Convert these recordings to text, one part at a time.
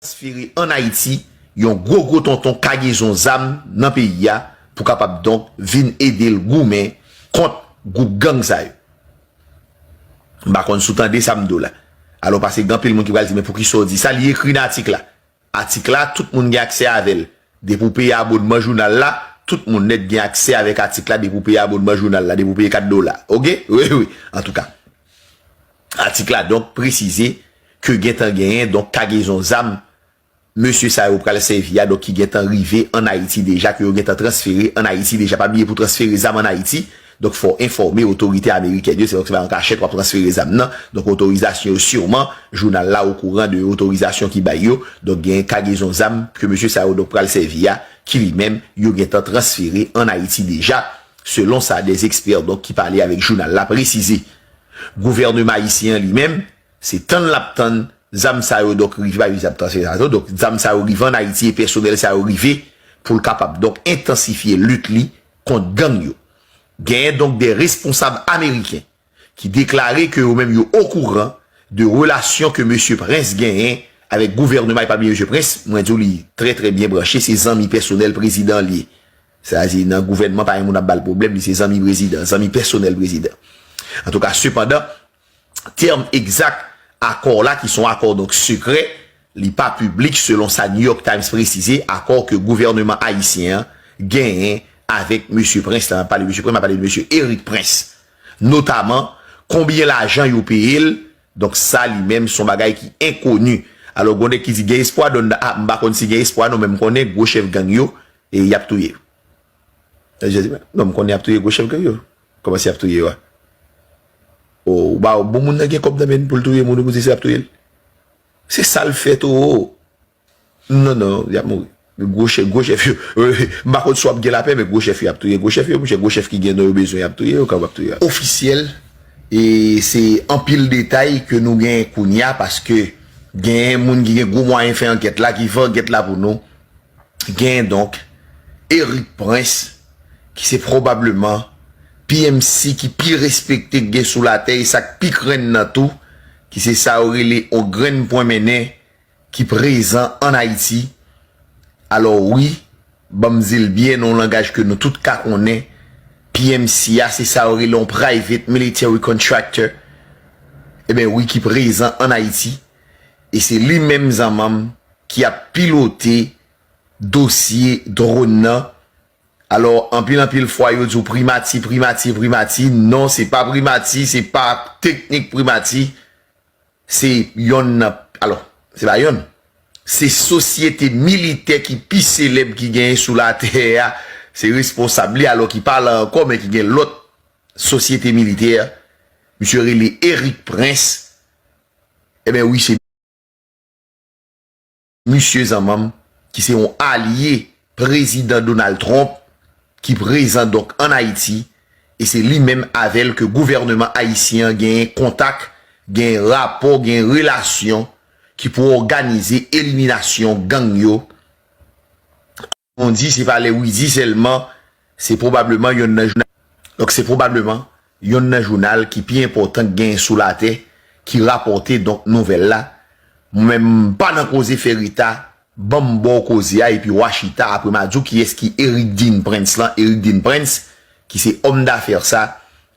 transfere an Ayiti yon gwo gwo tonton kagezon zam nan peyi a pou kapab donk vin ede l goumen kont gwoup gang sa yo. M pa konn si w tande sa m di w la. Alò pase gen anpil moun ki pral di men poukisa w di sa, li ekri nan atik la. Atik la tout moun gen aksè avè l. Depi w peye abonman jounal la, tout moun nèt gen aksè avèk atik la depi w peye abonman jounal la, depi w peye 4 dola. Ok? Wi wi. Antouka. Atik la donk presize ke gentan genyen donk kagezon zam mesye sa yo pral sèvi a donk ki gentan rive ann Ayiti deja ke yo gentan transfere ann Ayiti deja. Pa bliye pou transfere zam ann Ayiti donk fò w enfòme otorite amerikèn yo se pa an kachèt w ap transfere zam nan donk otorizasyon yo siman jounal la okouran de otorizasyon ki bay yo donk genyen kagezon zam ke mesye sa yo donk pral sèvi a ki li menm yo gentan transfere ann Ayiti deja. Selon sa des experts donk ki pale avèk jounal la presize, gouvèneman ayisyen an li menm, se tann l ap tann zam sa yo donk rive bay zam sa yo donk zam sa yo rive ann Ayiti e pèsonèl sa yo rive pou l kapab donk entansifye lit li kont gang yo. Genyen donk de responsab ameriken. ki deklare ke yo menm yo okouran de relasyon ke mesye Prince genyen avèk gouvèneman epabi mesye Prince mwen diw li trè trè byen branche se zanmi pèsonèl prezidan an li ye sa di nan gouvèneman pa gen moun ap bal pwoblèm li se zanmi prezidan zanmi pèsonèl prezidan antouka sepandan tèm egzak akò la ki son akò donk sekrè Li pa piblik selon sa New York Times presize akò ke gouvèneman ayisyen an genyen avèk mesye Prince la, map pale mesye Prince map pale de mesye Erik Prince, notaman konbyen lajan yo peye l, donk sa li menm son bagay ki enkoni. Alò gon nèg ki di gen espwa Don nan ap m pa konn si gen espwa non men m konnen gwo chèf gang yo e yap touye yo. Non m konnen yap touye gwo chèf gang yo. Kòman se yap touye yo a? O ou ba bon moun nan gen kòb nan men l pou l touye moun ou di se yap touye l? Se sal fè toro. Non non yap mouri. Gwo chèf gwo chèf yo m pa konn si wap gen lapè men gwo chèf yo ap touye gwo chèf yo monchè gwo chèf ki gen non yo bezwen yap touye yo kapab touye ofisyèl e se anpil detay ke nou gen kounya paske gen moun ki gen gwo mwayen fè ankèt la ki fè ankèt la pou nou gen donk Erik Prince ki se pwobableman PMC ki pi respekte gen sou latè e sak pi krenn nan tou ki se sa yo rele on grenn pwen mennen ki prezan an Ayiti, alò wi, ban m di l byen nan on langaj ke nou tout ka konnen, PMC a se sa yo rele on private military contractor, eben wi ki prezan an Ayiti, e se li menm zanman m ki ap pilote dosye dronn nan, Alò anpil anpil fwa yo di w primati, primati, primati, non se pa primati, se pa teknik primati, se yonn nan, alò, se pa yonn, se sosyete militè ki pi selèb ki genyen sou latè a, se responsab li alò ki pa la ankò men ki gen lòt sosyete militè, misye rele Erik Prens, eben wi se. Misye zanmanm ki se yon alye prezidan Donald Trump ki prezan donk an Ayiti e se li menm avè l ke gouvèneman ayisyen an genyen kontak, genyen rapò, genyen relasyon ki pou òganize eliminasyon gang yo. Bon di se pa lè Widy sèlman se pwobableman yonn nan jounal donk se pwobableman yonn nan jounal ki pi enpòtan k gen sou latè ki rapòte donk nouvèl la mwen menm m pa nan koze fè Rita ban m ba w koze a epi w a chita apre m a di w kiyès ki Eric Dean Prince lan Eric Dean Prince ki se òm dafè sa,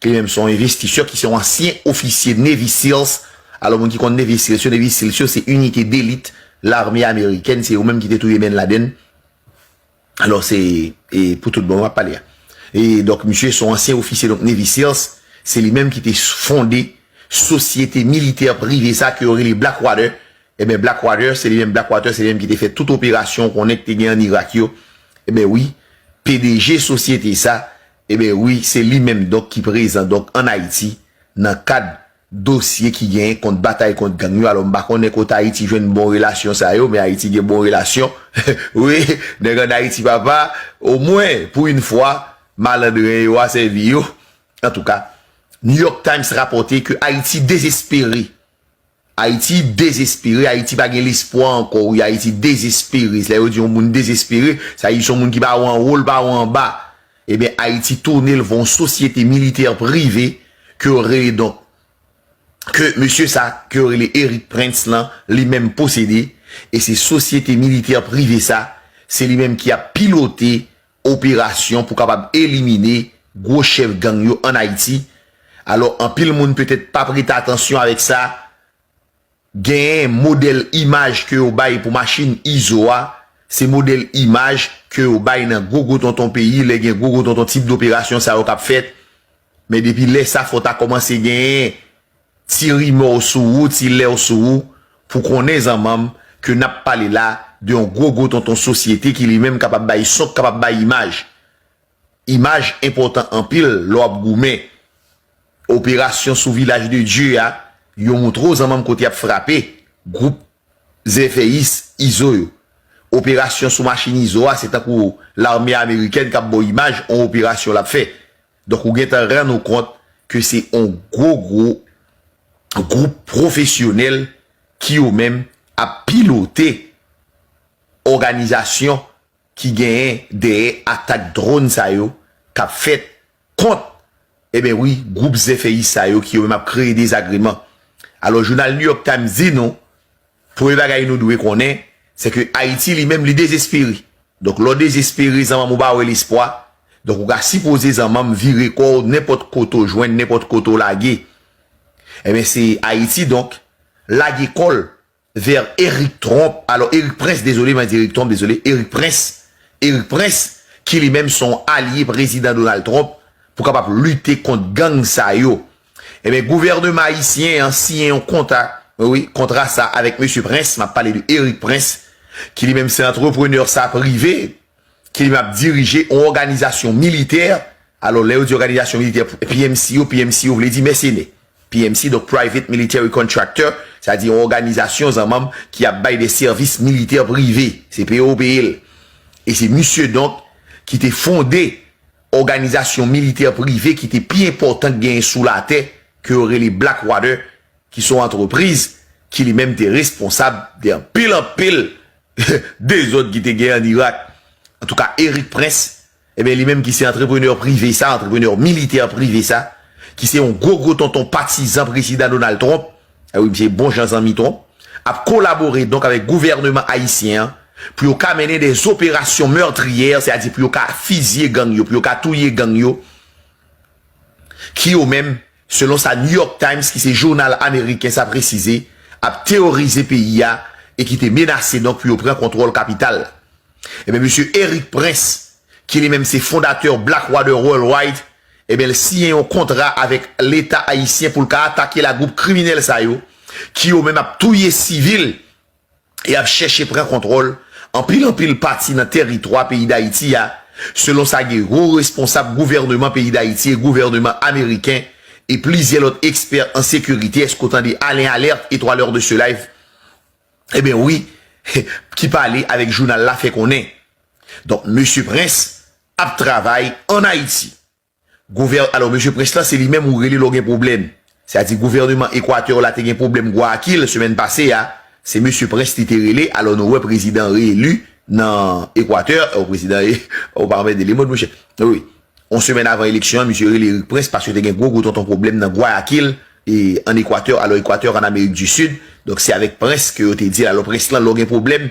ki li menm se yon envestisè, ki se yon ansyen ofisye Navy Seals, alò moun ki konn Navy Seals yo, Navy Seals yo se inite delit lame amerikèn, se yo menm ki te touye Bin Laden, alò se pou tout bon wap pale a. E donk misye son ansyen ofisye donk Navy Seals, se li menm ki te fonde sosyete militè prive sa ke yo rele Blackwater, Ebyen Blackwater se li menm Blackwater se li menm ki te fè tout operasyon ou konnen ki te gen an Irak yo ebyen wi pdg sosyete sa ebyen wi se li menm donk ki prezan donk an Ayiti nan kad dosye ki genyen kont batay kont gang yo alò m pa konnen kote Ayiti jwenn bon relasyon sa yo men Ayiti gen bon relasyon wi nèg an Ayiti papa omwen pou yn fwa malandren yo a sèvi yo antouka New York Times rapòte ke Ayiti dezespere Ayiti dezespere, Ayiti pa gen lespwa ankò wi, Ayiti dezespere, lè yo di yon moun dezespere, sa di son moun ki pa wè anwo, l pa wè anba, eben Ayiti tounen l yon sosyete militè prive ke yo rele donk, ke mesye sa ke yo rele Erik Prince lan li menm posede, e se sosyete militè prive sa, se li menm ki ap pilote operasyon pou kapab elimine gwo chèf gang yo an Ayiti, alò anpil moun petèt pa prete atansyon avèk sa, genyen modèl imaj ke yo bay pou machin Izo a, se modèl imaj ke yo bay nan gwo gwo tonton peyi lè gen gwo gwo tonton tip doperasyon sa yo k ap fèt, men depi lè sa fò ta kòmanse genyen. Ti rimè w sou ou, ti lè w sou ou, pou konnen zanmanm ke nap pale la de yon gwo gwo tonton sosyete ki li menm kapab bay son k kapab bay imaj. Imaj enpòtan anpil lè w ap goumen. Operasyon sou Vilaj de Dye a, yo moutre w zanmanm kote y ap frape gwoup zèfèyis izo yo. Operasyon sou machin izo a se tankou lame amerikèn k ap ba w imaj yon operasyon l ap fè. Donk ou gentan rann ou kont ke se yon gwo gwo gwoup pwofesyonèl ki yo menm ap pilote òganizasyon ki genyen dèyè atak dronn sa yo k ap fèt kont eben wi gwoup zèfèyis sa yo ki yo menm ap kreye dezagreman. Alò jounal New York Times di nou Premye bagay nou dwe konnen, se ke Ayiti li menm li dezespere. Donk lè w dezespere, zanmanm ou ba wè lespwa, donk ou ka sipoze zanmanm vire kò w nenpòt kote w jwenn, nenpòt kote w lage. Enben se Ayiti donk lage kò l vè Erik Trump, alò Erik Prince, dezole mwen di Erik Trump, dezole, Erik Prince, Erik Prince ki li menm se yon alye Prezidan Donald Trump pou kapab lite kont gang sa yo. Ebyen gouvèneman ayisyen an siyen yon konta, wi, kontra sa a avèk mesye Prince, m ap pale de Eric Prince, ki li menm se antreprenè sa prive, ki li menm ap dirije yon òganizasyon militè, alò lè yo di òganizasyon militè, PMC yo, PMC yo vle di mèsenè, PMC donk Private Military Contractor, sa vle di yon òganizasyon zanmanm ki ap bay de sèvis militè prive, se peye yo peye l. E se misye donk ki te fonde òganizasyon militè prive ki te pi enpòtan k genyen sou latè ke yo rele Blackwater ki se yon antrepriz ki li menm te responsab de anpil anpil dezòd ki te genyen an Irak. Antouka Erik Prince enben li menm ki se antreprenè prive sa, antreprenè militè prive sa ki se yon gwo gwo tonton patizan Prezidan Donald Trump, Ewi misye bon jan zanmi twòp. Ap kolabore donk avèk gouvèneman ayisyen an pou yo ka mennen des opérations meurtrières se a di pou yo ka fizye gang yo pou yo ka touye gang yo ki yo menm selon sa New York Times ki se jounal ameriken sa presize ap teworize peyi a e ki te menase donk pou yo pran kontwòl kapital la. Ebyen mesye Erik Prince ki li menm se fondatè Blackwater Worldwide Ebyen l siyen yon kontra avèk leta ayisyen pou l ka atake la gwoup kriminèl sa yo ki yo menm ap touye sivil e ap chèche pran kontwòl anpil anpil pati nan tèritwa peyi Dayiti a, selon sa gen wo responsab gouvèneman peyi Dayiti e gouvèneman ameriken e plizyè lòt ekspè an sekirite èske w tande Alain Alerte et 3 l'heure de ce live ebyen wi ki pale avèk jounal la fè konnen donk mesye Prince ap travay an Ayiti. Gouvè, alò mesye Prince lan se li menm ou rele lè w gen pwoblèm. Sa di gouvèneman Ekwatè w la te gen pwoblèm Gwaakil semèn pase a, se mesye Prince li te rele, alò nou wè prezidan re-eli nan Ekwatè, o prezidan e, o pa anmède le mond monchè. Wi, on semèn avan eleksyon an misye rele Erik Prince paske te gen gwo gwo tonton pwoblèm nan Gwayakil e an Ekwatè, alò Ekwatè an Amerik di Sid, donk se avèk Prince ke yo te di l, alò Prince lan lè w gen pwoblèm,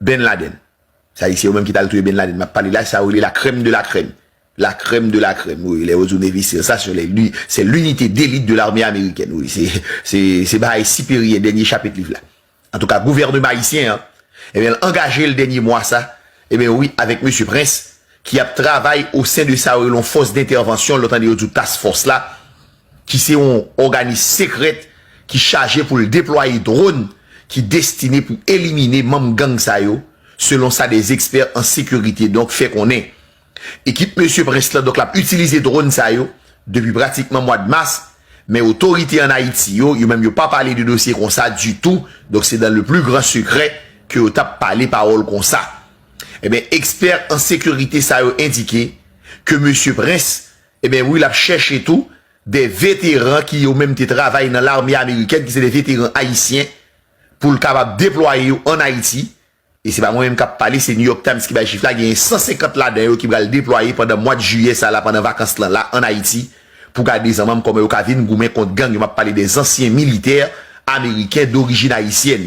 Ben Laden. Sa di se yo menm ki tal touye Ben Laden map pale la, sa yo rele la crème de la crème. La crème de la crème wi, lè yo di w Navy seal sa se lè li, se l'unité d'élite de l'armée américaine wi, se, se, se bagay siperyè dènye chapit liv la. Antouka gouvèneman ayisyen an, ebyen l angaje l dènye mwa sa, ebyen wi avèk mesye Prince ki ap travay osen de sa yo rele yon fòs dentèvansyon lè w tande yo di w task force la, ki se yon òganis sekrèt ki chaje pou l deplwaye dwòn ki destine pou elimine manm gang sa yo, selon sa des ekspè an sekirite donk fè konnen. Ekip mesye Prince lan donk l ap itilize dwòn sa yo depi pratikman mwad mas, men otorite an Ayiti yo, yo menm yo pa pale de dosye konsa ditou, donk se dan le pli gran sekrè ke yo t ap pale pawòl konsa. Enben, ekspè an sekirite sa yo endike ke mesye Prince, Eben wi lap chèche tou de veteran ki yo menm te travay nan lame amerikèn ki se de veteran ayisyen poul kapab deplwaye yo an Ayiti e se pa mwen menm kap pale se New York Times ki bay chif la genyen 150 ladan yo ki pral deplwaye pandan mwad jiyè sa la pandan vakans lan la an Ayiti pou gade zanmanm kòman yo ka vin goumen kont gang yo map pale de zansyen militè ameriken dorijin ayisyèn.